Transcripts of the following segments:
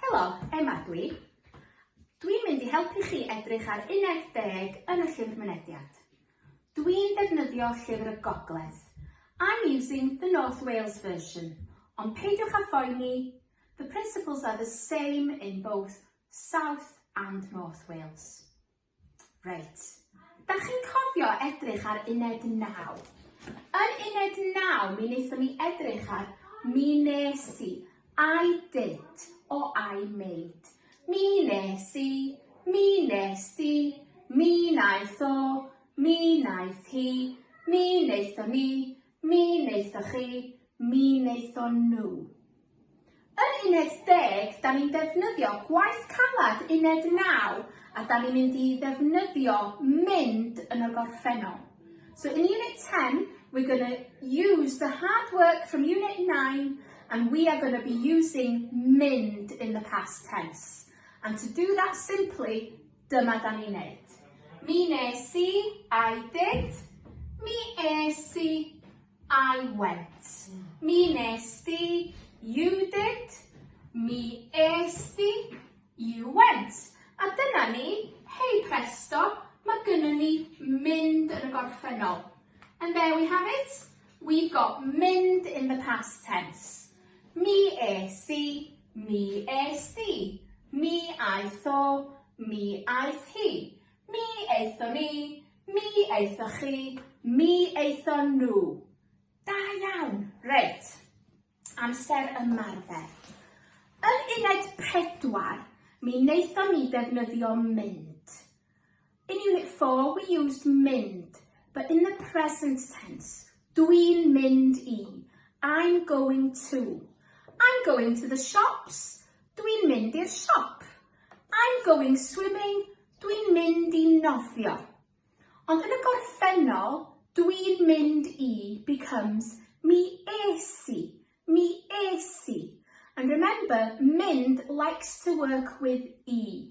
Helo, Emma ydw i. Dwi'n mynd i helpu chi edrych ar uned deg yn y Llyfr Mynediad. Dwi'n defnyddio Llyfr y Gogledd. I'm using the North Wales version, ond peidiwch â phoeni, the principles are the same in both South and North Wales. Reit. Dach chi'n cofio edrych ar uned 9? Yn uned 9 mi wnaethon ni edrych ar mi nes i, I did o I made. Mi nes i, mi nes di, mi naeth o, mi naeth hi, mi wnaethon ni, Mi wnaethoch chi, mi wnaethon nhw. Yn uned deg, da ni'n defnyddio gwaith caled uned naw a da ni'n mynd i ddefnyddio mynd yn y gorffennol. So in unit 10, we're going to use the hard work from unit 9 and we are going to be using mynd in the past tense. And to do that simply, Dyma da ni'n neud. Mi nes i, I did. Mi es i, I went. Mi nes di, you did. Mi es di, you went. A dyna ni, hei presto, mae gynnu ni mynd yn y gorffennol. And there we have it. We've got mynd in the past tense. Mi es i, Mi es di. Mi aeth o. Mi aeth hi. Mi aethon ni. Mi aethoch chi. Mi aethon nhw. Da iawn! Reit. Amser ymarfer. Yn uned pedwar, mi wnaethon ni ddefnyddio mynd. In Unit 4 we used mynd, but in the present tense. Dwi'n mynd i. I'm going to. I'm going to the shops. Dwi'n mynd i'r siop. I'm going swimming. Dwi'n mynd i nofio. Ond yn y gorffennol, dwi'n mynd i becomes mi es i, mi es i. And remember, mynd likes to work with e.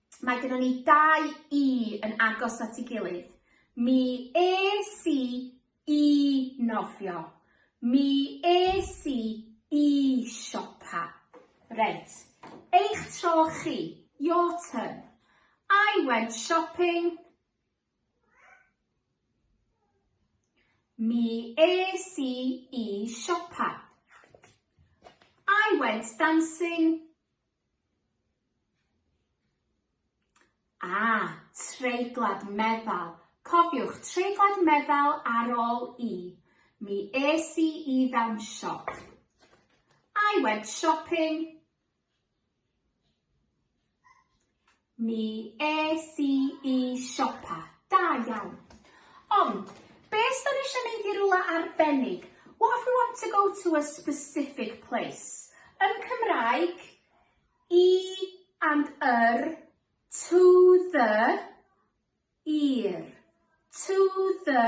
Mae gyda ni dau i yn agos at ei gilydd. Mi es i i nofio. Mi es i i siopa. Reit, eich tro chi, your turn. I went shopping. Mi es i i siopa. I went dancing. Ah, treiglad meddal. Cofiwch, treiglad meddal ar ôl i. Mi es i i fewn siop. I went shopping. Mi es i i siopa. Da iawn. Ond, be os 'da ni eisiau mynd i rywle arbennig? What if we want to go to a specific place? Yn Cymraeg, i and yr, to the, i'r, to the,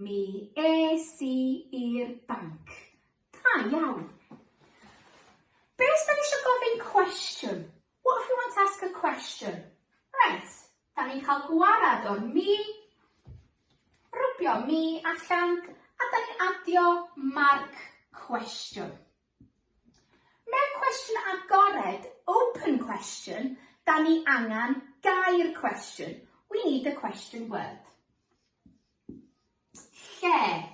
Mi es i i'r banc. Da iawn. Be os da ni eisiau gofyn cwestiwn? What if we want to ask a question? Right, da ni'n cael gwarad o'r mi, rwbio mi allan, a da ni'n adio marc cwestiwn. Mewn cwestiwn agored, open question, da ni angen gair cwestiwn. We need a question word. Lle.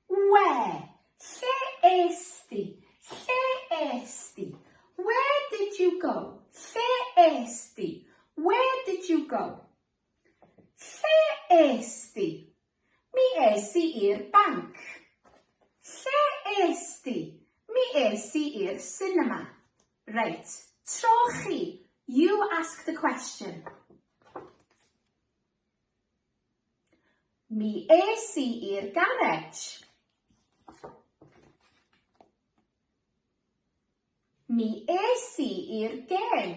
Where. Lle es di? Lle es di? Where did you go? Lle es di? Where did you go? Lle est ti? Mi es i i'r banc. Lle est ti? Mi es i i'r sinema. Reit, tro chi. You ask the question. Mi es i i'r garej. Mi es i i'r gêm.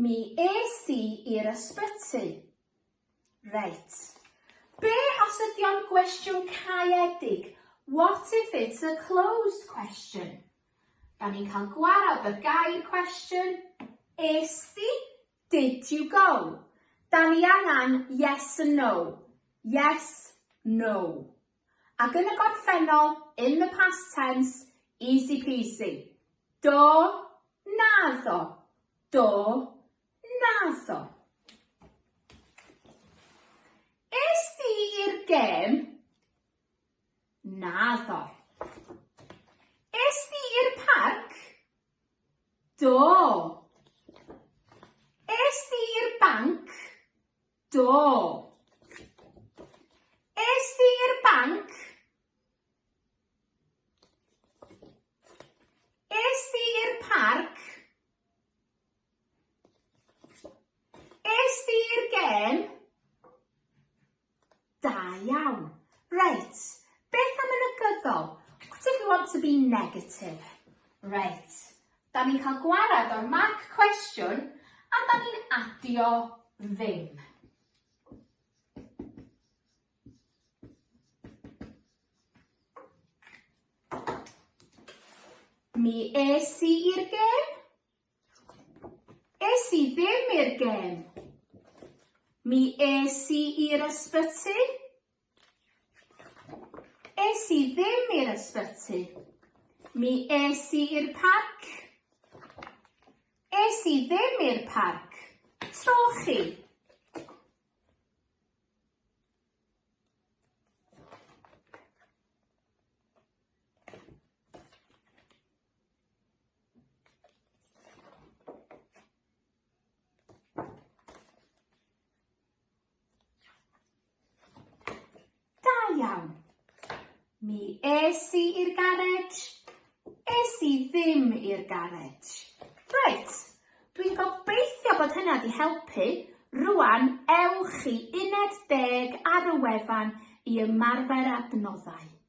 Mi es i i'r ysbyty. Reit. Be os ydy o'n gwestiwn caeedig? What if it's a closed question? Da ni'n cael gwarad ar gair cwestiwn. Es di? Did you go? Da ni angen yes and no. Yes, no. Ac yn y gorffennol, in the past tense, easy peasy. Do, naddo. Do, naddo. Es di i'r gêm? Naddo. Es di i'r parc? Do. Es di i'r banc? Do. Es di i'r banc? Es di i'r parc? Es di i'r gêm? Da iawn. Reit, beth am y negyddol? What if we want to be negative? Reit, da ni'n cael gwared o'r mark cwestiwn a da ni'n adio ddim. Mi es i i'r gêm. Es i ddim i'r gêm. Mi es i i'r ysbyty. Es i ddim i'r ysbyty. Mi es i i'r parc. Es i ddim i'r parc. Trochi. iawn. Mi es i i'r garej. Es i ddim i'r garej. Reit, dwi'n gobeithio bod hynna wedi helpu. Rwan, ewch i uned deg ar y wefan i ymarfer adnoddau.